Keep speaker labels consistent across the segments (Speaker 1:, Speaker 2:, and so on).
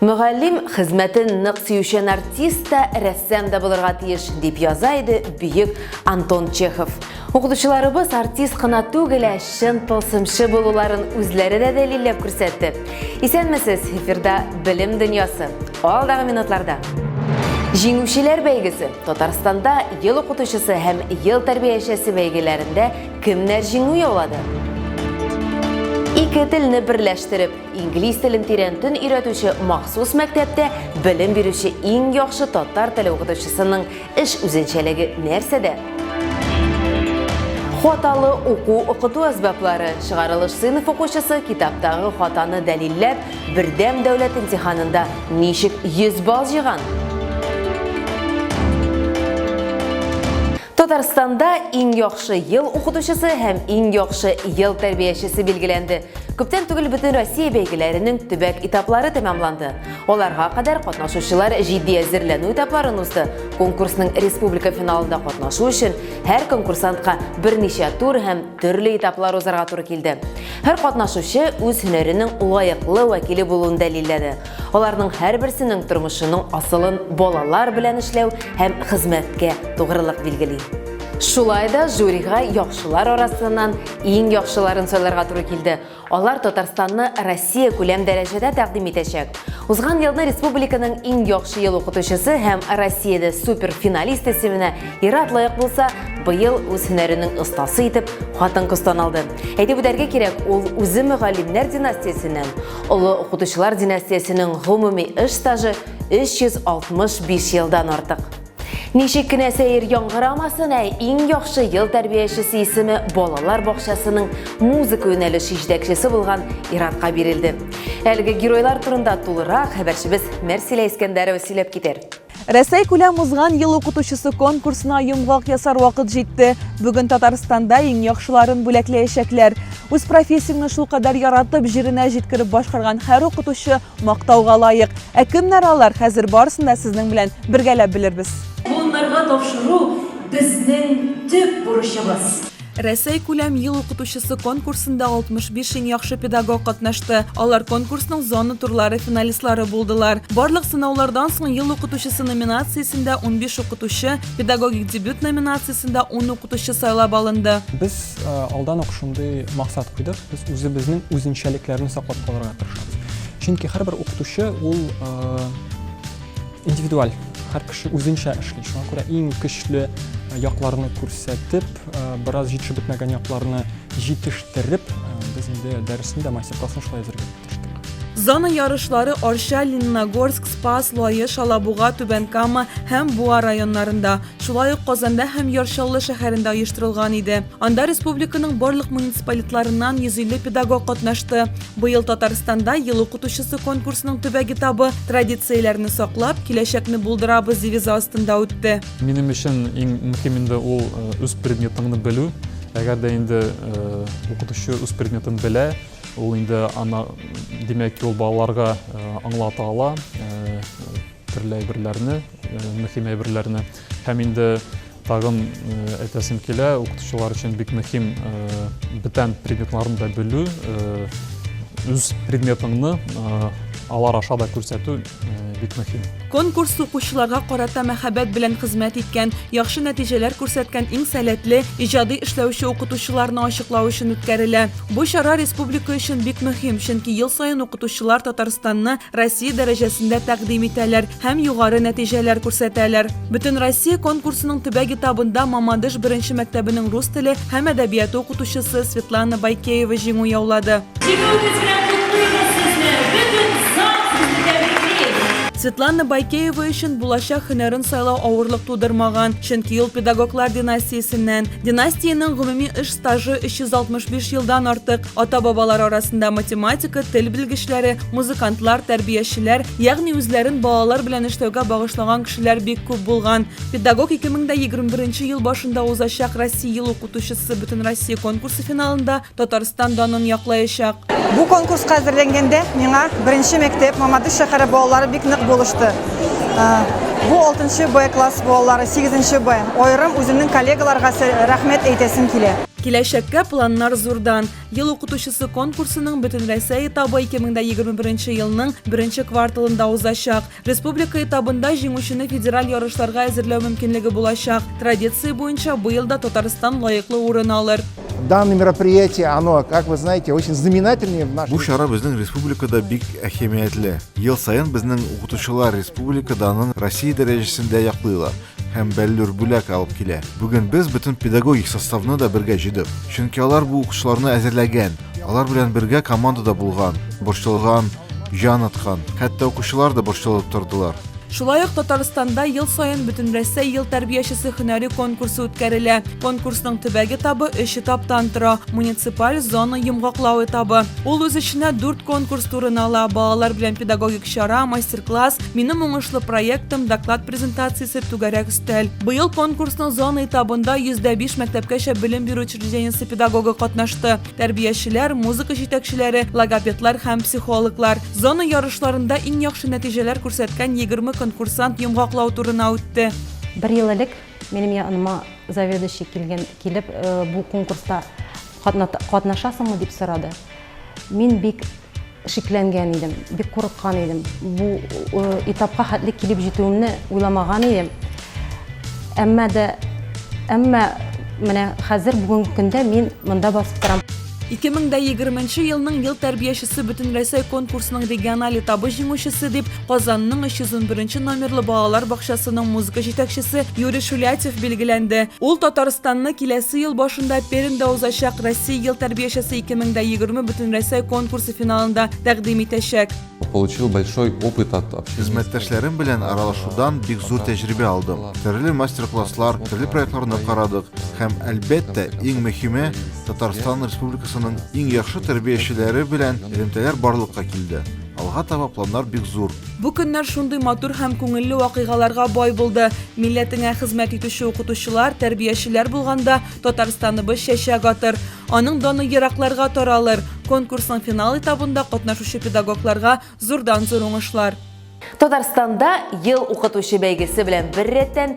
Speaker 1: Мөгаллим хезмәтен нык сөючән артист та, рәссам да булырга тиеш, дип яза иде бөек Антон Чехов. Укытучыларыбыз артист кына түгел, ә чын тылсымчы булуларын үзләре дә дәлилләп күрсәтте. Исәнмесез, эфирда Белем дөньясы. Алдагы минутларда. Җиңүчеләр бәйгесе Татарстанда ел укытучысы һәм ел тәрбиячесе бәйгеләрендә кемнәр җиңү яулады? Ике телне берләштереп, Инглиз телен тирәнтен өйрәтүче махсус мәктәптә белем бирүче иң яхшы татар теле укытучысының эш үзенчәлеге нәрсәдә? Хаталы уку укыту әсбаплары чыгарылыш сыйныф укучысы китаптагы хатаны дәлилләп, бердәм дәүләт имтиханында ничек 100 балл җыйган? Татарстанда иң яхшы ел укытучысы һәм иң яхшы ел тәрбиячесе билгеләнде. Күптән түгел бөтен Россия бәйгеләренең төбәк этаплары тәмамланды. Аларга кадәр катнашучылар җитди әзерләнү этапларын узды. Конкурсның республика финалында катнашу өчен һәр конкурсантка берничә тур һәм төрле этаплар узарга туры килде. Һәр катнашучы үз һөнәренең лаеклы вәкиле булуын дәлилләде. Аларның һәрберсенең тормышының асылын балалар белән эшләү һәм хезмәткә тугрылык билгели. Шулай да жюрига яхшылар арасыннан иң яхшыларын сайларга туры килде. Алар Татарстанны Россия күләм дәрәҗәдә тәкъдим итәчәк. Узган елны республиканың иң яхшы ел укытучысы һәм Россиядә суперфиналист исеменә Ират лаек булса, быел үз һөнәренең остасы итеп хатын-кыз таналды. Әйтеп үтәргә кирәк, ул үзе мөгаллимнәр династиясеннән. Олы укытучылар династиясенең гомуми эш стажы 365 елдан артык. Ничек кенә сәер яңгырамасын, ә иң яхшы ел тәрбиячесе исеме балалар бакчасының музыка юнәлеше җитәкчесе булган Иратка бирелде. Әлеге геройлар турында тулырак хәбәрчебез Мәрсилә Искәндәрова сөйләп китәр. Рәсәйкүләм
Speaker 2: узган ел укытучысы конкурсына йомгак ясар вакыт җитте. Бүген Татарстанда иң яхшыларын бүләкләячәкләр. Үз профессияңне шулкадәр яратып, җиренә җиткереп башкарган һәр укытучы мактауга лаек. Ә кемнәр алар, хәзер барысын да сезнең белән бергәләп белербез. Буыннарга
Speaker 3: тапшыру безнең төп бурычыбыз. Рәсәйкүләм
Speaker 2: ел укытучысы конкурсында 65 иң яхшы педагог катнашты. Алар конкурсның зона турлары финалистлары булдылар. Барлык сынаулардан соң ел укытучысы номинациясендә 15 укытучы, педагогик дебют номинациясендә 10 укытучы сайлап алынды. Без э,
Speaker 4: алдан ук шундый максат куйдык. Без үзебезнең үзенчәлекләрне саклап калырга тырышабыз. Чөнки һәрбер укытучы ул э, Индивидуаль һәр кеше үзенчә эшли. Шуңа күрә иң көчле якларны күрсәтеп, бераз җитешеп бетмәгән якларны җитештереп, без инде дәресне дә мастер-классны шулай әзерләп тырыштык. Зона
Speaker 2: ярышлары Арча, Лениногорск, Спас, Лаеш, Алабуга, Түбән Кама һәм Буа районнарында, Шулай ук Казанда һәм Яр Чаллы шәһәрендә оештырылган иде. Анда республиканың барлык муниципалитларыннан 150 педагог катнашты. Быел Татарстанда Ел укытучысы конкурсының төбәк этабы Традицияләрне саклап, киләчәкне булдырабыз девизы астында үтте. Минем өчен иң
Speaker 5: мөһим инде ул үз предметыңны белү. Әгәр дә инде укытучы үз предметын белә, ул инде ана димәк, ул балаларга аңлата ала төрле әйберләрне. мөһим әйберләрне. Һәм инде тагын әйтәсем килә, укытучылар өчен бик мөһим бүтән предметларны да белү, үз предметыңны алар аша да күрсәтү бик мөһим. Конкурс укучыларга
Speaker 2: карата мәхәббәт белән хезмәт иткән, яхшы нәтиҗәләр күрсәткән иң сәләтле, иҗади эшләүче укытучыларны ачыклау өчен үткәрелә. Бу чара республика өчен бик мөһим, чөнки ел саен укытучылар Татарстанны Россия дәрәҗәсендә тәкъдим итәләр һәм югары нәтиҗәләр күрсәтәләр. Бөтен Россия конкурсының төбәк этабында Мамадыш беренче мәктәбенең рус теле һәм әдәбияты укытучысы Светлана Байкеева җиңү яулады. Светлана Байкеева өчен булачак һөнәрен сайлау авырлык тудырмаган, чөнки ул педагоглар династиясеннән. Династиянең гомуми эш стажы 365 елдан артык. Ата-бабалар арасында математика, тел белгечләре, музыкантлар, тәрбиячеләр, ягъни үзләрен балалар белән эшләүгә багышлаган кешеләр бик күп булган. Педагог 2021 ел башында узачак Россия ел укытучысы Бөтенроссия конкурсы финалында Татарстан данын яклаячак. Бу конкурска
Speaker 6: әзерләнгәндә миңа беренче мәктәп Мамадыш шәһәре балалары бик нык булышты. Бу 6 Б класс балалары, 8 Б. Аерым үземнең коллегаларга рәхмәт әйтәсем килә. Киләчәккә
Speaker 2: планнар зурдан. Ел укытучысы конкурсының Бөтенрәсәй этабы 2021 елның беренче кварталында узачак. Республика этабында җиңүчене федераль ярышларга әзерләү мөмкинлеге булачак. Традиция буенча быел да Татарстан лаеклы урын алыр. Данное мероприятие,
Speaker 7: оно, как вы знаете, очень знаменательное в нашей... Бу чара безнең республикада
Speaker 8: бик әһәмиятле. Ел саен безнең укытучылар республика данын Россия дәрәҗәсендә яклыйлар. һәм бәллүр бүләк алып килә. Бүген без бөтен педагогик составны да бергә җыйдык. Чөнки алар бу укучыларны әзерләгән, алар белән бергә командада булган, борчылган, җан аткан, хәтта укучылар да борчылып тордылар. Шулай ук
Speaker 2: Татарстанда ел саен Бөтенрәсәй ел тәрбиячесе һөнәри конкурсы үткәрелә. Конкурсның төбәк этабы өч этаптан тора, муниципаль, зона, йомгаклау этабы. Ул үз эченә дүрт конкурс турын ала, балалар белән педагогик чара, мастер-класс, Минем уңышлы проектым, доклад презентациясе, түгәрәк өстәл. Быел конкурсның зона этабында 105 мәктәпкәчә белем бирү учреждениесе педагогы катнашты. Тәрбиячеләр, музыка җитәкчеләре, логопедлар һәм психологлар. Зона ярышларында иң яхшы нәтиҗәләр күрсәткән 20 конкурсант йомгаклау турына үтте. Бер ел элек
Speaker 9: минем яныма заведующий килгән килеп э, бу конкурста катнашасыңмы дип сорады. Мин бик Шикләнгән идем, бик курыккан идем. Бу этапка хәтле килеп җитүемне уйламаган идем. Әмма дә, әмма менә хәзер бүгенге көндә мин монда басып торам. 2020
Speaker 2: елның ел тәрбиячесе бөтенрәсәй конкурсының региональ этабы җиңүчесе дип, Казанның 301 номерлы балалар бакчасының музыка җитәкчесе Юрий Шулятев билгеләнде. Ул Татарстанны киләсе ел башында Пермьдә узачак Россия ел тәрбиячесе 2020 бөтенрәсәй конкурсы финалында тәкъдим итәчәк. получил большой
Speaker 10: опыт от общения. Хезмәттәшләрем белән
Speaker 8: аралашудан бик зур тәҗрибә алдым. Төрле мастер-класслар, төрле проектларны карадык һәм, әлбәттә, иң мөһиме, Татарстан Республикасының иң яхшы тәрбиячеләре белән элемтәләр барлыкка килде. Алга таба планнар бик зур. Бу көннәр шундый
Speaker 2: матур һәм күңелле вакыйгаларга бай булды. Милләтеңә хезмәт итүче укытучылар, тәрбиячеләр булганда Татарстаныбыз чәчәк атыр. Аның даны еракларга таралыр. Конкурсның финал этабында катнашучы педагогларга зурдан-зур уңышлар. Татарстанда
Speaker 1: Ел укытучы бәйгесе белән беррәттән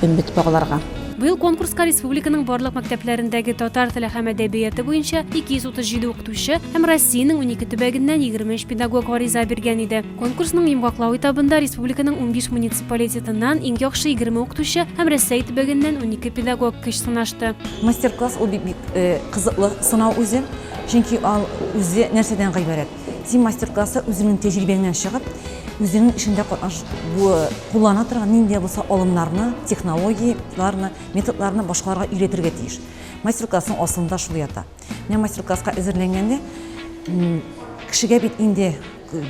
Speaker 9: Кем бит багларга. Быел конкурска
Speaker 11: республиканың барлык мәктәпләрендәге татар теле һәм әдәбияты буенча 237 укытучы һәм Россиянең 12 төбәгеннән 23 педагог гариза биргән иде. Конкурсның йомгаклау этабында республиканың 15 муниципалитетыннан иң яхшы 20 укытучы һәм Рәсәй төбәгеннән 12 педагог көч сынашты. Мастер-класс ул бик
Speaker 3: э, кызыклы сынау үзе, чөнки ал үзе нәрсәдән гыйбарәт? Син мастер-класста үзеңнең тәҗрибәңнән чыгып, үзеңнең эшеңдә катнаш бу куллана торган нинди дә булса алымнарны, технологияләрне, методларны башкаларга өйрәтергә тиеш. Мастер-классның асылында шул ята. Менә мастер-класска әзерләнгәндә кешегә бит инде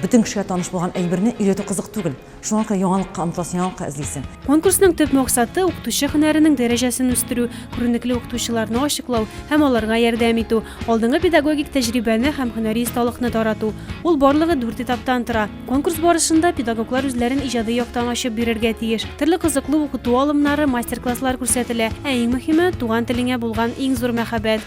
Speaker 3: бөтен кешегә таныш булган әйберне өйрәтү кызык түгел. Шуңа күрә яңалыкка омтыласың, яңалыкка эзлисең. Конкурсның төп
Speaker 11: максаты, укытучы һөнәренең дәрәҗәсен үстерү, күренекле укытучыларны ачыклау һәм аларга ярдәм итү, алдынгы педагогик тәҗрибәне һәм һөнәри осталыкны тарату. Ул барлыгы дүрт этаптан тора. Конкурс барышында педагоглар үзләрен иҗади яктан ачып бирергә тиеш. Төрле кызыклы укыту алымнары, мастер-класслар күрсәтелә. Ә иң мөһиме, туган телеңә булган иң зур мәхәббәт.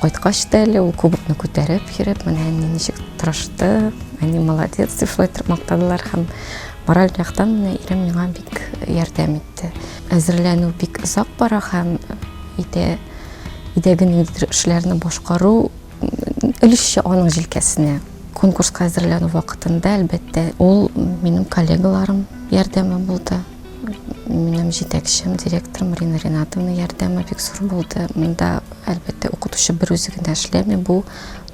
Speaker 9: Кайткач та әле ул кубокны күтәреп йөреп, менә әни ничек тырышты, әни молодец дип шулай итеп мактадылар һәм мораль яктан менә ирем миңа бик ярдәм итте. Әзерләнү бик озак бара һәм өйдә өйдәге ниндидер эшләрне башкару өлешчә аның җилкәсенә. Конкурска әзерләнү вакытында, әлбәттә, ул минем коллегаларым ярдәме булды. Минем җитәкчем, директор Марина Ринатовна ярдәме бик зур булды. Монда, әлбәттә, укытучы бер үзе генә эшләми, бу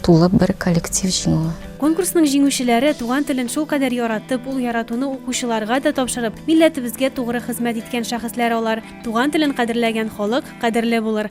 Speaker 9: тулы бер коллектив җиңүе. Конкурсның җиңүчеләре
Speaker 11: туган телен шулкадәр яратып, ул яратуны укучыларга да тапшырып, милләтебезгә тугры хезмәт иткән шәхесләр алар. Туган телен кадерләгән халык кадерле булыр.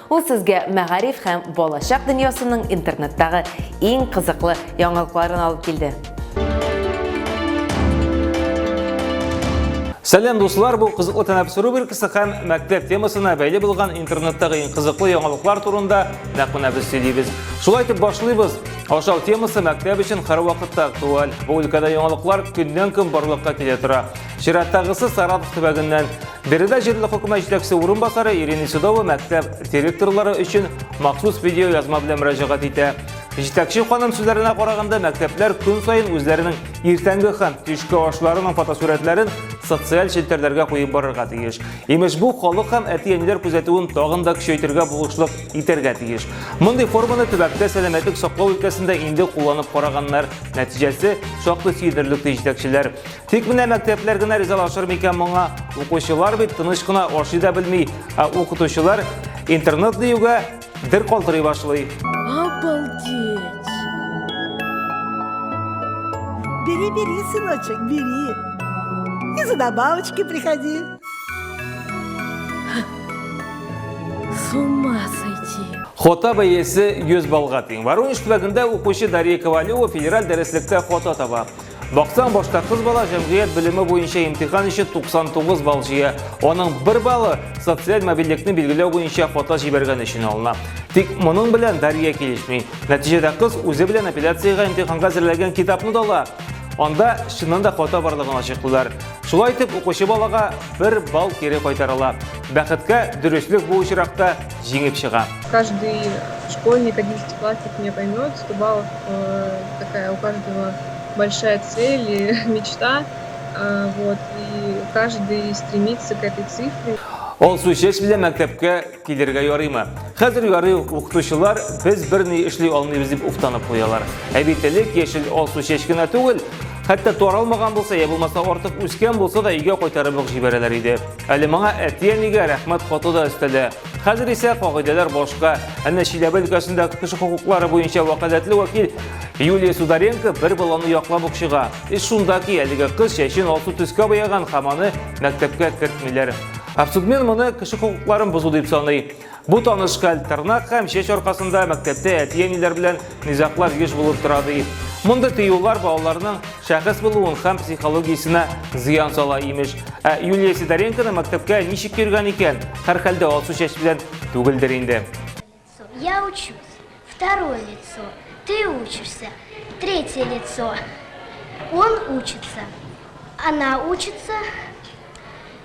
Speaker 1: Ул сезгә мәгариф һәм балачак дөньясының интернеттагы иң кызыклы яңалыкларын алып килде.
Speaker 12: Сәлем дуслар, бу кызыклы тәнәфес рубрикасы һәм мәктәп темасына бәйле булган интернеттагы иң кызыклы яңалыклар турында нәкъ менә без сөйлибез. Шулай итеп башлыйбыз. Ашау темасы мәктәп өчен һәрвакытта актуаль. Бу өлкәдә яңалыклар көннән-көн барлыкка килә тора. Чираттагысы Саратов төбәгеннән. Биредә җирле хөкүмәт җитәкчесе урынбасары Ирина Судова мәктәп директорлары өчен махсус видео язма белән мөрәҗәгать итә. Җитәкче ханым сүзләренә караганда, мәктәпләр көн саен үзләренең иртәнге һәм төшке ашларының фотосурәтләрен социаль челтәрләргә куеп барырга тиеш. Имеш, бу халык һәм әти-әниләр күзәтүен тагын да көчәйтергә булышлык итәргә тиеш. Мондый форманы төбәктә сәламәтлек саклау өлкәсендә инде кулланып караганнар. Нәтиҗәсе шактый сөендерелде җитәкчеләр. Тик менә мәктәпләр генә ризалашыр микән моңа? Укучылар бит тыныч кына ашый да белми, ә укытучылар интернет диюгә дер калтырый башлый. Обалдеть!
Speaker 13: Бери, бери, сыночек, бери. И за добавочки приходи. С ума сойти. Хота бәясе
Speaker 12: 100 баллга тиң. Воронеж төбәгендә укучы Дарья Ковалева федераль дәреслектә хота таба. Баксаң, башта кыз бала җәмгыять белеме буенча имтихан өчен 99 балл җыя. Аның бер баллы социаль мобильлекне билгеләү буенча фото җибәргән өчен алына. Тик моның белән Дарья килешми. Нәтиҗәдә кыз үзе белән апелляциягә имтиханга әзерләгән китапны да ала. Анда чыннан да фото барлыгын ачыклыйлар. Шулай итеп, укучы балага бер балл кире кайтарыла. Бәхеткә, дөреслек бу очракта җиңеп чыга. Каждый
Speaker 14: школьник, одиннадцатиклассник меня поймет, сто баллов э, такая у каждого большая цель и мечта. Э, вот, и каждый стремится к этой цифре. Ол сүчеш
Speaker 12: белән мәктәпкә килергә ярыймы? Хәзер ярый укытучылар без берни эшли алмыйбыз дип уфтанып куялар. Ә бит элек яшел ол сүчеш кенә түгел, хәтта таралмаган булса, я булмаса артык үскән булса да өйгә кайтарып ук җибәрәләр иде. Әле моңа әти-әнигә рәхмәт хаты да өстәде. Хәзер исә кагыйдәләр башка. Әнә Чиләбе өлкәсендә кеше хокуклары буенча вәкаләтле вәкил Юлия Сударенко бер баланы яклап ук чыга. Эш шунда ки, әлеге кыз чәчен алсу төскә бояган һәм аны мәктәпкә кертмиләр. Абсудмен моны кеше хокукларын бозу дип саный. Бу таныш хәл тырнак һәм чәч аркасында мәктәптә әти-әниләр белән низаклар еш булып тора ди. Мондый тыюлар балаларның шәхес булуын һәм психологиясенә зыян сала имеш. Ә Юлия Сидоренконы мәктәпкә ничек йөргән икән? Һәрхәлдә алсу чәч белән түгелдер инде. Я
Speaker 15: учусь. Второе лицо. Ты учишься. Третье лицо. Он учится. Она учится.